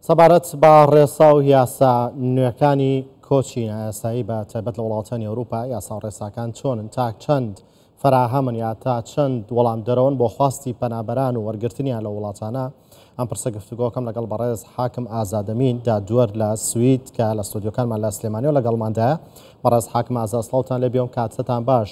سەبارەت بە ڕێسا و یاسا نوێکانی کۆچی نایاسایی بە تایبەت لە وڵاتانی ئەوروپا، یاسا و ڕێساکان چۆنن، تا چەند فەراهەمن یا تا چەند وەڵامدەرەوەن بۆ خواستی پەنابەران و وەرگرتنیان لەو وڵاتانە؟ ئەم پرسە گفتوگۆکەم لەگەڵ بەڕێز حاکم ئازادەمین، دادوەر لە سوید کە لە ستۆدیۆکانمان لە سلێمانیەوە لەگەڵماندایە. بەڕێز حاکم ئازاد سڵاوتان لێبێ و کاتتان باش.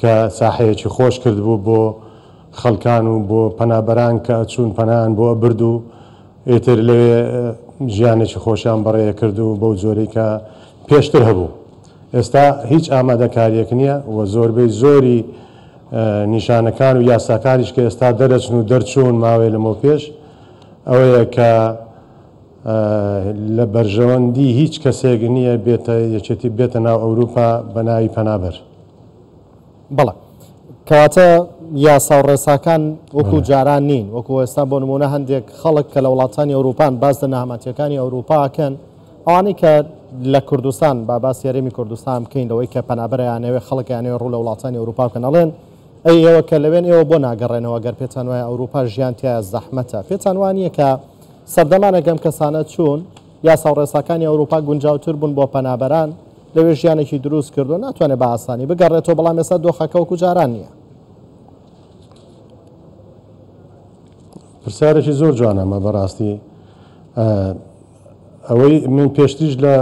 کە ساحەیەکی خۆش کردبوو بۆ خەڵکان و بۆ پەنابەران کە ئەچوون پەنایان بۆ ئەبرد و ئیتر لەوێ ژیانێکی خۆشیان بەڕێ ئەکرد و بەو جۆرەی کە پێشتر هەبوو ئێستا هیچ ئامادەکاریەک نیە و زۆربەی زۆری نیشانەکان و یاساکانیش کە ئێستا دەرەچن و دەرچوون ماوەی لەمەو پێش ئەوەیە کە لە بەرژەوەندی هیچ کەسێک نیە بێتە یەکێتی بێتە ناو ئەوروپا بە ناوی پەنابەر. بەڵێ کەواتە یاسا و ڕێساکان وەکو جاران نین وەکو ئێستا بۆ نمونە هەندێک خەڵک کە لە وڵاتانی ئەوروپان باز لە نەهامەتیەکانی ئەوروپاکەن ئەوانەی کە لە کوردستان با باس یاریمی کوردستان بکەین لەوەی کە پەنابەرەیانەوێ خەڵکیانەوە ڕوو لە وڵاتانی ئەوروپا کە نەڵێن ئەی ئێوە کە لەوێن ئێوە بۆ ناگەڕێنەوە گەر پێتان وایە ئەوروپا ژیان تایە زەحمەتە پێتان وانە کە سەردەمانەگەم کەسانە چوون یاسا و ڕێساکانی ئەوروپا گونجاوتر بوون بۆ پەنابەران، لەوێ ژیانێکی دروست کردوون، ناتوانێت بە ئاسانی بگەڕێتەوە، بەڵام ئێستا دۆخەکە وەکو جاران نییە. پرسیارێکی زۆر جوانە مە بەڕاستی ئەوەی من پێشتیش لە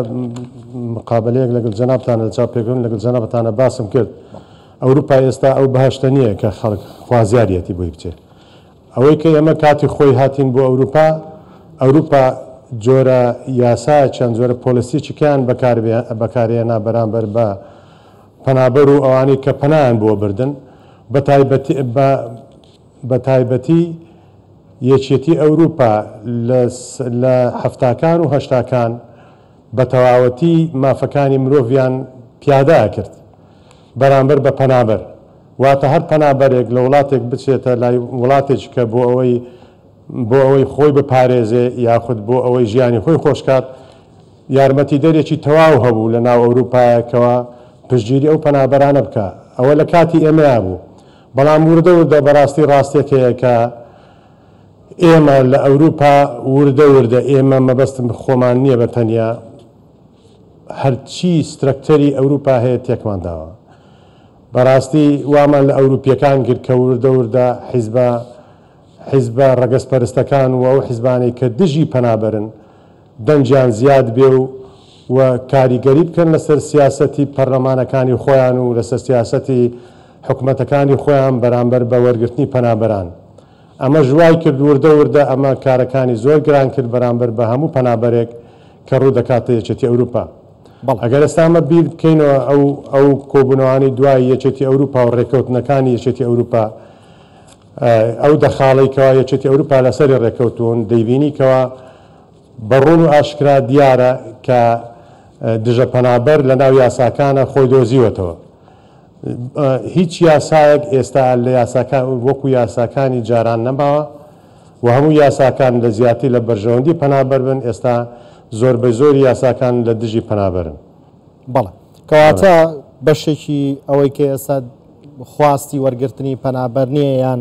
مقابلەیەک لەگەڵ جەنابتانە لە چاپێکن لەگەڵ جەنابتانە باسم کرد ئەوروپا ئێستا ئەو بەهشتە نییە کە خەڵک خوازیارەتی بۆی بچێت ئەوەی کە ئێمە کاتی خۆی هاتین بۆ ئەوروپا، ئەوروپا جۆرە یاسایەکیان، جۆرە پۆلسییەکیان بەکارهێنا بەرامبەر بە پەنابەر و ئەوانەی کە پەنایان بۆ بردن، بە تایبەتی یەکێتی ئەوروپا لە حەفتاکان و هەشتاکان، بە تەواوەتی مافەکانی مرۆڤیان پیادە ئەکرد بەرامبەر بە پەنابەر واتە هەر پەنابەرێک لە وڵاتێک بچێتە لای وڵاتێکیکە بۆ ئەوەی بۆ ئەوەی خۆی بپارێزێ یاخود بۆ ئەوەی ژیانی خۆی خۆشکات یارمەتیدەرێکی تەواو هەبوو لە ناو ئەوروپایەکەوە پشتگیری ئەو پەنابەرانە بکا ئەوە لە کاتی ئێمەیا بوو بەڵام وردە وردە بەراستی راستێک هەیە کە ئێمە لە ئەوروپا وردە وردە ئێمە مەبەستم خۆمان نیە بە تەنیا هەرچی سترەکتەری ئەوروپا هەیە تێکمان داوە بەراستی وامان لە ئەوروپیەکان گرت کە وردە وردە حیزبە حیزبە رەگەزپەرستەکان و ئەو حیزبانەی کە دژی پەنابەرن دەنگیان زیاد بێ و و کاریگەری بکەن لەسەر سیاسەتی پەرلەمانەکانی خۆیان و لەسەر سیاسەتی حکومەتەکانی خۆیان بەرامبەر بە وەرگرتنی پەنابەران. ئەمەش وای کرد وردە وردە ئەمە کارەکانی زۆر گران کرد بەرامبەر بە هەموو پەنابەرێک کە ڕوو دەکاتە یەکێتی ئەوروپا. بەڵێ. ئەگەر ئێستا ئەمە بیر بکەینەوە ئەو ئەو کۆبوونەوانەی دوای یەکێتی ئەوروپا و ڕێکەوتنەکانی یەکێتی ئەوروپا ئەو دەخاڵەی کەوا یەکێتی ئەوروپا لەسەری ڕێکەوتوون دەیبینی کەوا بە ڕوون و ئاشکرا دیارە کە دژە پەنابەر لە ناو یاساکانا خۆی دۆزیوەتەوە. هیچ یاسایەک ئێستا لە یاساکان وەکو یاساکانی جاران نەماوە و هەموو یاساکان لە زیاتر لە بەرژەوەندی پەنابەر بن، ئێستا زۆربەی زۆری یاساکان لە دژی پەنابەرن. بەڵێ. کەواتە بەشێکی ئەوەی کە ئێستا خواستی وەرگرتنی پەنابەر نییە یان.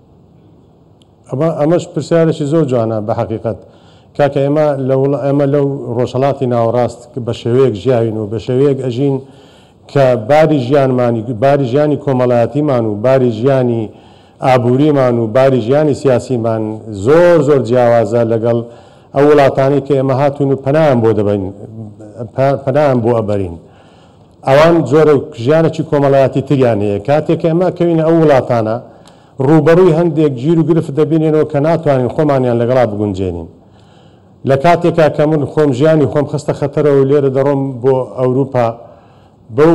ئەمەش پرسیارێکی زۆر جوانە بە حەقیقەت کاکە ئێمە ئێمە لەو ڕۆژهەڵاتی ناوەڕاست بە شێوەیەک ژیاوین و بە شێوەیەک ئەژین کە باری ژیانمانی باری ژیانی کۆمەڵایەتیمان و باری ژیانی ئابووریمان و باری ژیانی سیاسیمان زۆر زۆر جیاوازە لەگەڵ ئەو وڵاتانەی کە ئێمە هاتوین و پەنایان بۆ دەبەین پەنایان بۆ ئەبەرین ئەوان جۆرێک ژیانێکی کۆمەڵایەتی تریان هەیە، کاتێک کە ئێمە ئەکەوینە ئەو وڵاتانە، ڕووبەڕووی هەندێک گیر و گرفت دەبینەوە کە ناتوانین خۆمانیان لەگەڵا بگونجێنین. لە کاتێکا کە من خۆم ژیانی خۆم خستە خەتەرەوە و لێرە دەڕۆم بۆ ئەوروپا بەو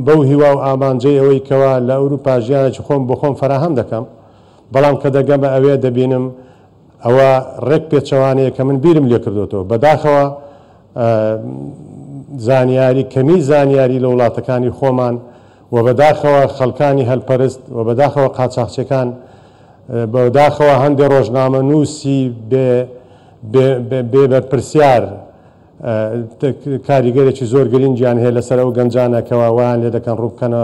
بەو هیوا و ئامانجەی ئەوەی کەوا لە ئەوروپا ژیانێکی خۆم بۆ خۆم فەراهەم دەکەم، بەڵام کە دەگەمە ئەوێ دەبینم، ئەوە ڕێک پێچەوانەیە کە من بیرم لێ کردۆتەوە. بەداخەوە زانیاری کەمی زانیاری لە وڵاتەکانی خۆمان و بەداخەوە خەڵکانی هەلپەرست و بەداخەوە قاچاخچێکان بەداخەوە هەندێ ڕۆژنامە نووسی بێ بەرپرسیار کاریگەرێکی زۆر گرنگیان هەیە لەسەر ئەو گەنجانە کەوا وایان لێ دەکەن ڕووبکەنە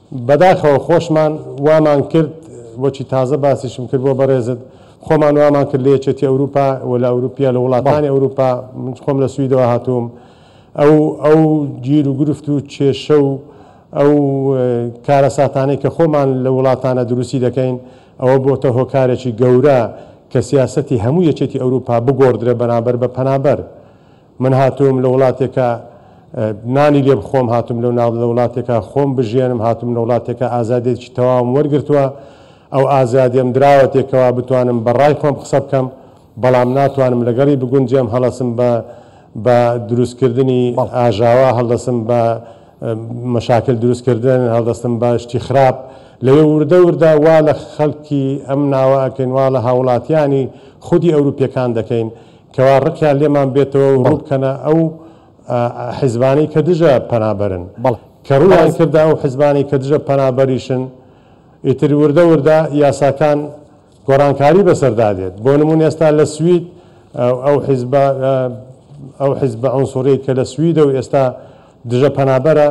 بەداخەوە خۆشمان وامان کرد وەکی تازە باسیشم کرد بۆ بەڕێزت خۆمان وامان کرد لە یەکێتی ئەوروپا و لە ئەوروپیا لە بەڵێ. وڵاتانی ئەوروپا من خۆم لە سویدەوە هاتووم ئەو ئەو گیر و گرفت و کێشە و ئەو کارەساتانەی کە خۆمان لەو وڵاتانە دروستی دەکەین ئەوە بۆتە هۆکارێکی گەورە کە سیاسەتی هەموو یەکێتی ئەوروپا بگۆڕدرێ بەرامبەر بە پەنابەر من هاتووم لە وڵاتێکا نانی لێ بخۆم، هاتووم لە ناو لە وڵاتێکا خۆم بژیێنم، هاتووم لە وڵاتێکا ئازادێکی تەواوم وەرگرتووە، ئەو ئازادیەم دراوەتێ کەوا بتوانم بە ڕای خۆم قسە بکەم، بەڵام ناتوانم لەگەڵی بگونجێم، هەڵەسم بە بە دروست کردنی ئاژاوە، هەڵدەسم بە مەشاکل دروست کردن، هەڵدەستم بە شتی خراپ، لەوێ وردە وردە وا لە خەڵکی ئەم ناوە ئەکەین، وا لە هاوڵاتیانی خودی ئەوروپیەکان دەکەین، کەوا ڕقیان لێمان بێتەوە و ڕوو بکەنە ئەو حیزبانەی کە دژە پەنابەرن. کە ڕوویان کردە ئەو حیزبانەی کە دژە پەنابەریشن، ئیتر وردە وردە یاساکان گۆڕانکاری بەسەردا دێت. بۆ نموونە ئێستا لە سوید ئەو حیزبە ئەو حیزبە عونسوڕیەی کە لە سویدە و ئێستا دژە پەنابەرە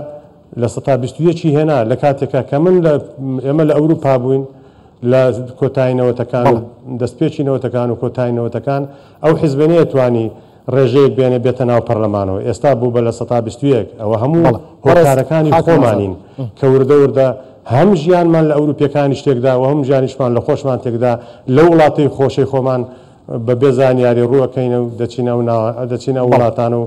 لە سەتا بیست و یەک ی هێنا لە کاتێکا کە من لە ئێمە لە ئەوروپا بووین لە کۆتایی نەوەتەکان و بەڵێ. دەستپێکی نەوەتەکان و کۆتایی نەوەتەکان ئەو حیزبە نەیەتوانی ڕێژەیەک بێنێ بێتە ناو پەرلەمانەوە ئێستا بوو بە لە سەتا بیست و یەک ئەوە هەموو بەڵێ بەڕێز هۆکارەکانی کاکە ئازاد. خۆمانین کە وردە وردە هەم ژیانمان لە ئەوروپیەکانیش تێکدا و هەم ژیانیشمان لە خۆشمان تێکدا لەو وڵاتەی خۆشەی خۆمان بە بێ زانیاری ڕوو ئەکەینە و دەچینە ئەو ناوە دەچینە ئەو بەڵێ. وڵاتانە و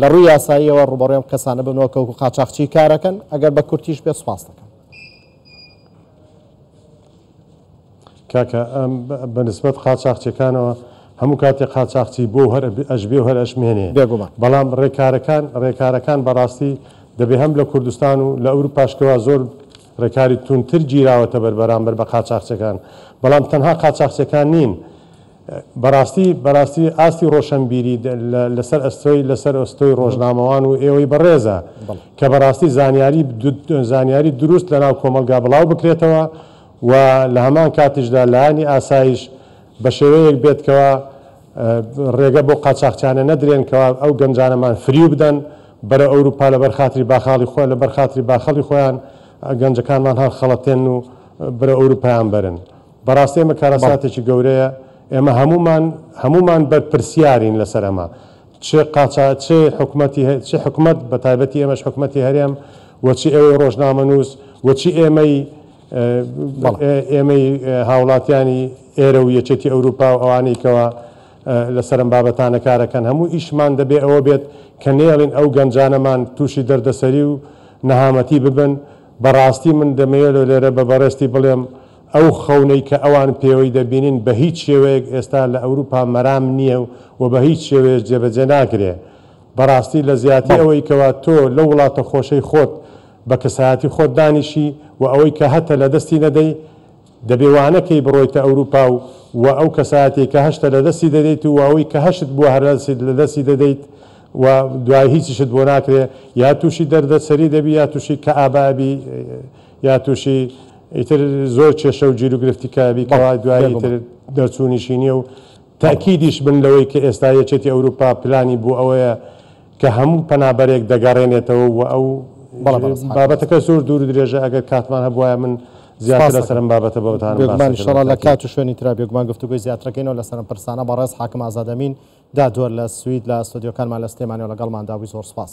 لە ڕووی یاساییەوە ڕووبەڕووی ئەم کەسانە ببنەوە کە وەکو قاچاخچی کارەکەن، ئەگەر بە کورتیش بێت سوپاست دەکەم. کاکە بە نسبەت قاچاخچیەکانەوە هەموو کاتێ قاچاخچی بۆ هەر ئەشبێ و هەر ئەشمێنێ، بەڵام ڕێکارەکان ڕێکارەکان بەڕاستی دەبێ هەم لە کوردستان و لە ئەوروپاش کەوا زۆر ڕێکاری توندتر گیراوەتەبەر بەرامبەر بە قاچاخچیەکان، بەڵام تەنها قاچاخچیەکان نین، بەڕاستی بەڕاستی ئاستی ڕۆشەنبیری لە سەر ئەستۆی لە سەر ئەستۆی ڕۆژنامەوان و ئێوەی بەڕێزە کە بەڕاستی زانیاری زانیاری دروست لە ناو کۆمەڵگا بڵاو بکرێتەوە و لە هەمان کاتیشدا لایەنی ئاسایش بە شێوەیەک بێت کەوا ڕێگە بۆ قاچاخچیانە نەدرێن کەوا ئەو گەنجانەمان فریو بدەن بەرە ئەوروپا لەبەر خاتری باخاڵی خۆیان لەبەر خاتری باخەڵی خۆیان گەنجەکانمان هەڵخەڵەتێن و برە ئەوروپایان بەرن. بەڕاستی ئەمە کارەساتێکی گەورەیە، ئێمە هەموومان هەموومان بەرپرسیارین لەسەر ئەمە، چ قاچا چ حکومەتی هە چ حکومەت بە تایبەتی ئێمەش حکومەتی هەرێم و چ ئێوەی ڕۆژنامەنووس و چ ئێمەی بەڵێ. ئێمەی هاوڵاتیانی ئێرە و یەکێتی ئەوروپا و ئەوانەی کەوا لەسەر ئەم بابەتانە کارەکەن هەموو ئیشمان دەبێ ئەوە بێت کە نێڵین ئەو گەنجانەمان تووشی دەردەسەری و نەهامەتی ببن، بەڕاستی من دەمەوێ لۆ لێرە بە بەڕێزتی بڵێم، ئەو خەونەی کە ئەوان پێوەی دەبینن بە هیچ شێوەیەک ئێستا لە ئەوروپا مەرام نییە و بە هیچ شێوەیەش جێبەجێ ناکرێ. بەڕاستی لە زیاتی بەڵێ. ئەوەی کەوا تۆ لەو وڵاتە خۆشەی خۆت بە کەسایەتی خۆت دانیشی و ئەوەی کە هەتە لە دەستی نەدەی، دەبێ وا نەکەی بڕۆیتە ئەوروپا و و ئەو کەسایەتیەی کە هەشتە لە دەستی دەدەیت و ئەوەی کە هەشت بووە هەر لە دەستی دەدەیت و دوای هیچیشت بۆ ناکرێ یا تووشی دەردە سەری دەبی یا تووشی کەئابە ئەبی. یا تووشی ئیتر زۆر کێشە و گیروگرفتی کە بی کەوە دوایی ئیتر دەرچوونیشی نییە و تەئکیدیش بن لەوەی کە ئێستا یەکێتی ئەوروپا پلانی بۆ ئەوەیە کە هەموو پەنابەرێک دەگەڕێنێتەوە و ئەو بابەتەکە زۆر دوور و درێژە ئەگەر کاتمان هەبوایە من زیاتر لەسەر ئەم بابەتە بۆتان باس بێگومان ئیشەڵا لە کات و شوێنی ترا بێگومان گفتوگۆی زیاترەکەینەوە لەسەر ئەم پرسانە بەڕێز حاکم ئازاد ئەمین دادوەر لە سوید لە ستۆدیۆکانمان لە سلێمانیەوە لەگەڵماندا بووی زۆر سوپاس.